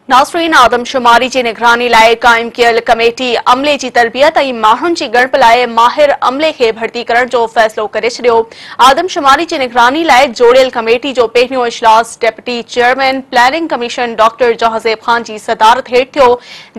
ناصرين آدمشماري جي نگراني لاء قائم ڪيل ڪميٽي عملي جي تربيت ۽ ماڻهن جي ڳڻپ لاء ماهر عملي کي ڀرتي ڪرڻ جو فيصلو ڪري ڇڏيو آدمشماري جي نگراني لاء جوڙيل ڪميٽي جو پهريون اجلاس deputy chairman planning commission doctor Jahanzeb Khan جي صدارت هيٺ ٿيو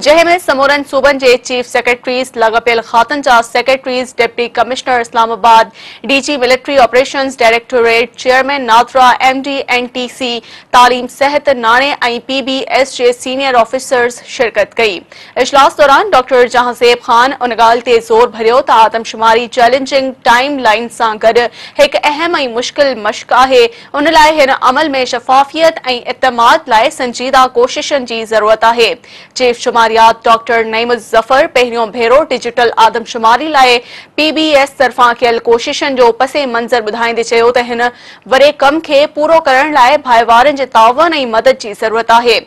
جنهن ۾ سمورن صوبن جي چيف سيڪريٽريز لاڳاپيل کاتن جا secretaries deputy commissioner Islamabad D G military operations directorate chairman NADRA M D N T C تعليم، صحت، ناڻي ۽ پي بي ايس جي سينيئر آفيسرز شرڪت ڪئي. اجلاس دوران ڊاڪٽر جهانزيب خان ان ڳالهه تي زور ڀريو ته آدمشماري چئلينجنگ ٽائيم لائين سان گڏ هڪ اهم ۽ مشڪل مشق آهي، ان لاء هن عمل ۾ شفافيت ۽ اعتماد لاء سنجيده ڪوششن جي ضرورت آهي. چيف شماريات ڊاڪٽر نعيم الظفر پهريون ڀيرو ڊجيٽل آدمشماري لاء پي بي ايس طرفان ڪيل ڪوششن جو پس منظر ٻڌائيندي چيو ته هن واري ڪم کي پورو ڪرڻ لاء ڀائيوارن جي تعاون ۽ مدد جي ضرورت آهي.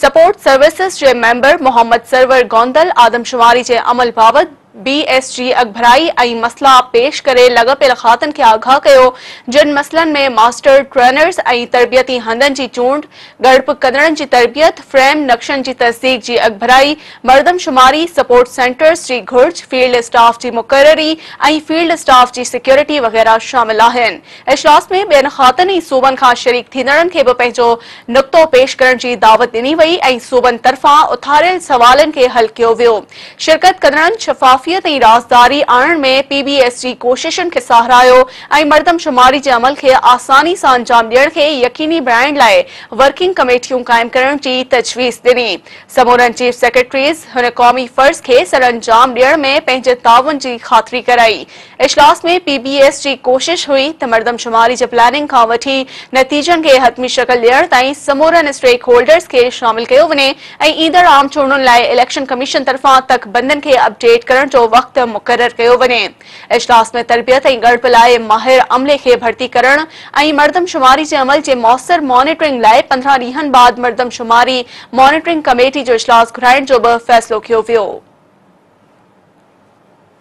سپورٽ سروسز جي ميمبر محمد سرور گوندل آدمشماري جي عمل بابت بي ايس جي اڳڀرائي ۽ مسئلا پيش ڪري لڳپيل کاتن کي آگاهه ڪيو جن مسئلن ۾ ماسٽر ٽرينرز ۽ تربيتي هنڌن جي چونڊ، ڳڙپ ڪندڙن جي تربيت، فريم نقشن جي تصديق جي اڳڀرائي، مردمشماري، سپورٽ سينٽرز جي گهرج، فيلڊ اسٽاف جي مقرري ۽ فيلڊ اسٽاف جي سيڪيورٽي وغيره شامل آهن. اجلاس ۾ ٻين خاڪن ۽ صوبن کان شريڪ ٿيندڙن کي به پنهنجو نقطو پيش ڪرڻ جي دعوت ڏني وئي ۽ صوبن طرفان اٿاريل سوالن کي حل ڪيو ويو. شرڪت ڪندڙن شفافيت ۽ رازداري آڻڻ ۾ پي بي ايس جي ڪوششن کي ساراهيو ۽ مردمشماري جي عمل کي آساني سان انجام ڏيڻ کي يقيني بڻائڻ لاء ورڪنگ ڪميٽيون قائم ڪرڻ جي تجويز ڏني. سمورن چيف سيڪريٽريز هن قومي فرض کي سرانجام ڏيڻ ۾ پنهنجي تعاون جي خاطري ڪرائي. اجلاس ۾ پي بي ايس جي ڪوشش هئي ته مردمشماري جي پلاننگ کان وٺي نتيجن کي حتمي شڪل ڏيڻ تائين سمورن اسٽيڪ هولڊرز کي شامل ڪيو وڃي ۽ ايندڙ عام چونڊن لاء اليڪشن ڪميشن طرفان تڪ بندين کي اپ ڊيٽ ڪرڻ جو وقت مقرر ڪيو وڃي. اجلاس ۾ تربيت ۽ ڳڻپ لاء ماهر عملي کي ڀرتي ڪرڻ ۽ مردمشماري جي عمل جي موثر مانيٽرنگ لاء پندرهن ڏينهن بعد مردمشماري مانيٽرنگ ڪميٽي جو اجلاس گهرائڻ جو به فيصلو ڪيو ويو.